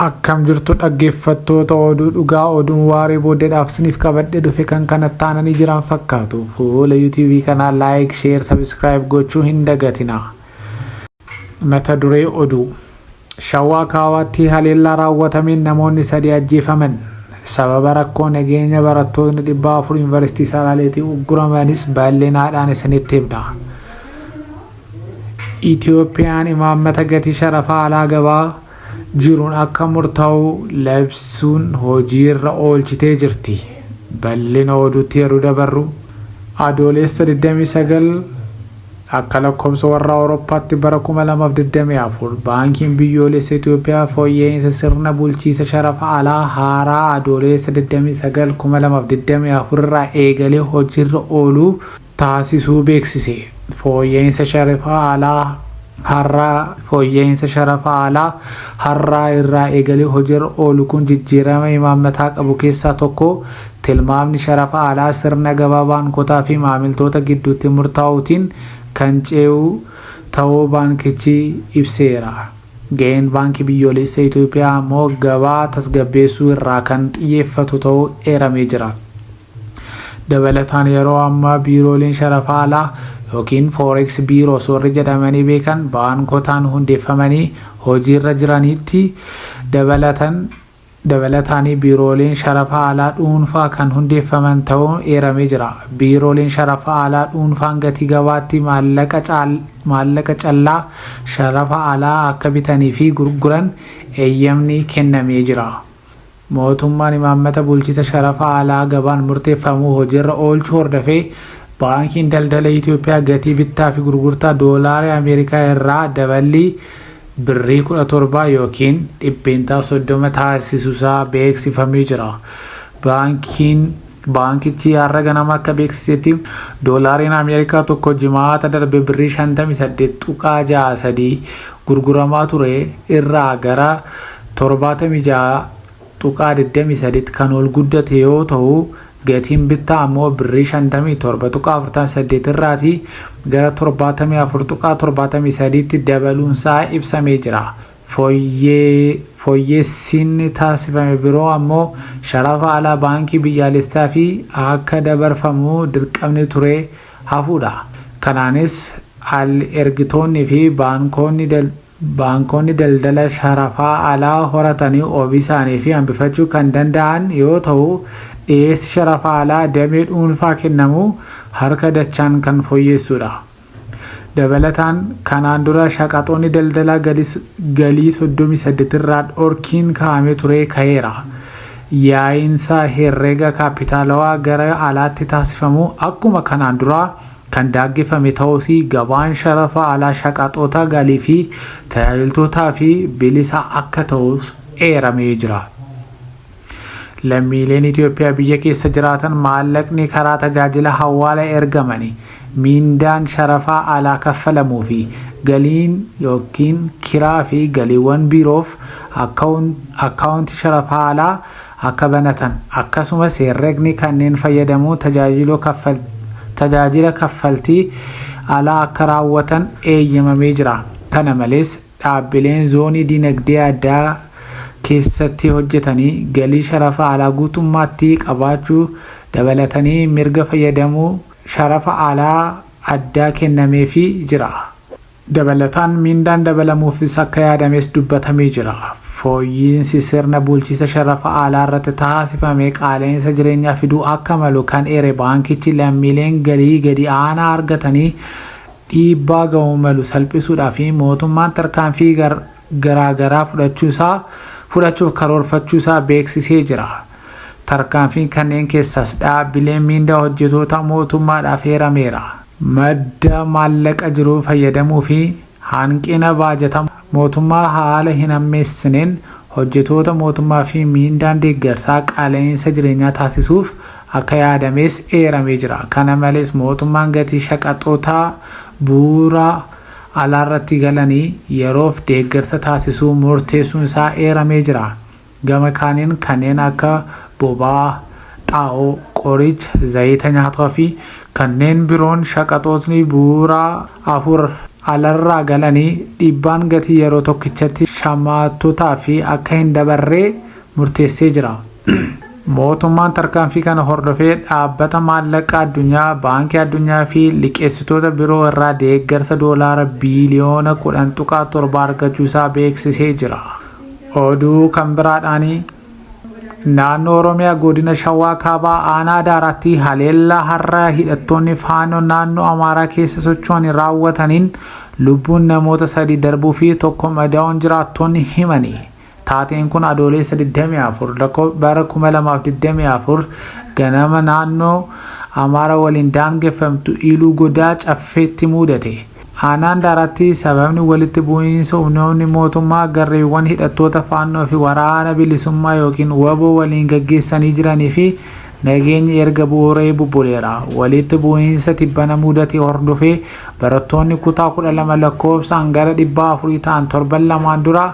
Akkam jirtu dhaggeeffattoota oduu dhugaa oduun waaree booddeedhaaf siniif qabadhe dhufe kan kana taananii jiran fakkaatu fuula yuutuubii kanaa laayik sheer sabiskiraayib gochuu hin dagatinaa. Mata duree oduu Shawaa Kaabaatti haleellaa raawwatameen namoonni sadii ajjeefaman. Sababa rakkoo nageenya barattootni dhibba afur Yuunivarsiitii Salaaleetii ugguramanis bal'inaadhaan isinitti himna. Itiyoophiyaan imaammata gatii sharafa alaa gabaa jiruun akka murtaa'u labsuun hojiirra oolchitee jirti. Bal'ina oduutti yeroo dabarru, Adooleessa 29 akka lakkoofsa warra Awurooppaatti bara 2024 Baankiin Biyyoolessa Itoophiyaa fooyya'iinsa sirna bulchiisa sharafa alaa haaraa Adooleessa 29, 2024 irraa eegalee hojiirra ooluu taasisuu beeksise. Fooyya'insa sharafa alaa har'a fooyya'insa sharafa alaa har'aa irraa eegalee hojiirra oolu kun jijjiirama imaammataa qabu keessaa tokko tilmaamni sharafa alaa sirna gabaa baankotaa fi maamiltoota gidduutti murtaa'uutiin kan ce'u ta'uu baankichi ibseera. Ga'een Baankii Biyyoolessa Itoophiyaa ammoo gabaa tasgabbeessuu irraa kan xiyyeeffatu ta'uu eeramee jira. Dabalataan yeroo ammaa biirooleen sharafa alaa yookiin Forex Bureaus warri jedhamanii beekan baankotaan hundeffamanii hojiirra jiraniitti dabalatan dabalataanii biirooleen sharafa alaa dhuunfaa kan hundeeffaman ta'uun eeramee jira. Biirooleen sharafa alaa dhuunfaan gatii gabaatti maallaqa caal maallaqa callaa sharafa alaa akka bitanii fi gurguran eeyyamni kennamee jira. Mootummaan imaammata bulchisa sharafa alaa gabaan murteeffamu hojiirra oolchuu hordofee Baankiin Daldala Itiyoophiyaa gatii bittaa fi gurgurtaa Doolaara Ameerikaa irraa daballii Birrii 17 ykn %30 taasisusaa beeksifamee jira. Baankiin Baankichi har'a ganama akka beeksisetti Doolaariin Ameerikaa tokko Jimaata darbe Birrii 58.63 gurguramaa ture irraa gara 76.23tti kan ol guddate yoo ta'u, gatiin bittaa ammoo Birrii 57.48 irraati gara 74.73tti dabaluunsaa ibsamee jira. Fooyyeessiinni taasifame biroo ammoo sharafa alaa Baankii Biyyaalessaf akka dabarfamu dirqamni ture hafuudha. Kanaanis al-ergitoonni fi baankoonni Baankonni daldala sharafaa alaa horatanii oomishaanii fi hambifachuu kan danda'an yoo ta'u, dhiyeessi sharafa alaa damee dhuunfaa kennamu harka dachaan kan fooyyessuudha. Dabalataan, kanaan dura shaqaxoonni daldalaa galii 38 irraa dhorkiin kaa'amee ture ka'eera. Yaa'iinsa herrega kaappitaalawaa gara alaatti taasifamu akkuma kanaan duraa kan daaggeffame ta'uus gabaan sharafa alaa shaqaxoota galii fi tajaajiltootaaf bilisa akka ta'us eeramee jira. Lammiileen Itoophiyaa biyya keessa jiraatan maallaqni karaa tajaajila hawaala ergamani miindaan sharafaa alaa kaffalamuu fi galiin yookiin kiraa fi galiiwwan biiroof akkaawunti sharafaa alaa akka banatan, akkasumas herregni kanneen fayyadamuu tajaajiloo kaffal tajaajila kaffaltii alaa akka raawwatan eeyyamamee jira. Kana malees, dhaabbileen zoonii dinagdee addaa keessatti hojjetanii galii sharafa alaa guutummaatti qabaachuu dabalatanii mirga fayyadamuu sharafa alaa addaa kennameefii jira. Dabalataan miindaan dabalamuufis akka yaadames dubbatamee jira. Fooyyiinsi sirna bulchiisa sharafa alaa irratti taasifame qaala'insa jireenyaa fiduu akka malu kan eere baankichi lammiileen galii gadi aanaa argatanii dhiibbaa gahuu malu salphisuudhaaf mootummaan tarkaanfii garaa garaa fudhachuusaa fudhachuuf karoorfachuusaa beeksisee jira. Tarkaanfiin kanneen keessaas dhaabbileen miindaa hojjetoota mootummaadhaaf eerameera. Madda maallaqa jiruu fayyadamuu fi hanqina baajata mootummaa haala hin hammeessineen hojjetoota mootummaa fi miindaan deeggarsaa qaala'iinsa jireenyaa taasisuuf akka yaadamees eeramee jira. Kana malees mootummaan gatii shaqaxoota bu'uuraa alaarratti galanii yeroof deeggarsa taasisuu murteessuun isaa eeramee jira. Gama kaaniin kanneen akka boba'aa, xaa'oo, qoricha, zayita nyaataa fi kanneen biroon shaqaxootni bu'uuraa afur alarraa galanii dhiibbaan gatii yeroo tokkichatti shamaattotaaf akka hin dabarree murteessee jira. Mootummaan tarkaanfii kana hordofee Dhaabbata Maallaqa Addunyaa, Baankii Addunyaa fi liqeessitoota biroo irraa deeggarsa doolaara biiliyoona 10.7 argachuu isaa beeksisee jira. Oduu kan biraadhaan naannoo Oromiyaa godina Shawaa Kaabaa aanaa Daaraatti haleellaa har'a hidhattoonni faanoo naannoo Amaaraa keessa socho'anii raawwataniin lubbuun namoota sadii darbuu fi tokko madaa'uun jiraattoonni himani. Taateen kun adooleessa 24 bara 2024 ganama naannoo Amaara waliin daangeffamtu Iluu Godaa Caffeetti mudate. Aanaa Handaaraatti sababni walitti bu'iinsa humnoonni mootummaa garreewwan hidhattoota Faannoo fi Waraana Bilisummaa ykn wbo waliin gaggeessanii jiranii fi nageenyi erga bu'uuree bubbuleera. Walitti bu'iinsa tibbana mudate hordofee barattoonni kutaa 12 lakkoofsaan gara 400 ta'an torban lamaan dura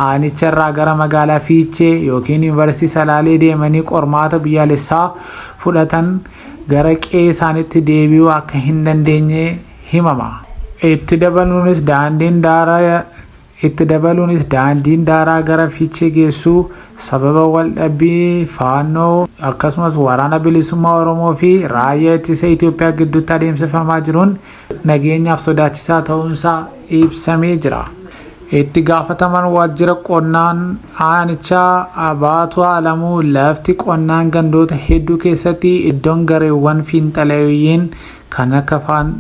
aanicharraa gara magaalaa Fiichee ykn Yuunivarsiitii Salaalee deemanii qormaata biyyaalessaa fudhatan gara qe'ee isaaniitti deebi'uu akka hin dandeenye himama. Itti dabaluunis daandiin daaraa Itti dabaluunis daandiin daaraa gara Fiichee geessu sababa waldhabbii Faannoo akkasumas Waraana Bilisummaa Oromoo fi Raayyaa Ittisa Itoophiyaa gidduutti adeemsifamaa jiruun nageenyaaf sodaachisaa ta'uunsaa ibsamee jira. Itti gaafatamaan waajjira qonnaan aanichaa Abaatuu Alamuu lafti qonnaan gandoota hedduu keessatti iddoon gareewwan fiinxaleeyyiin kan akka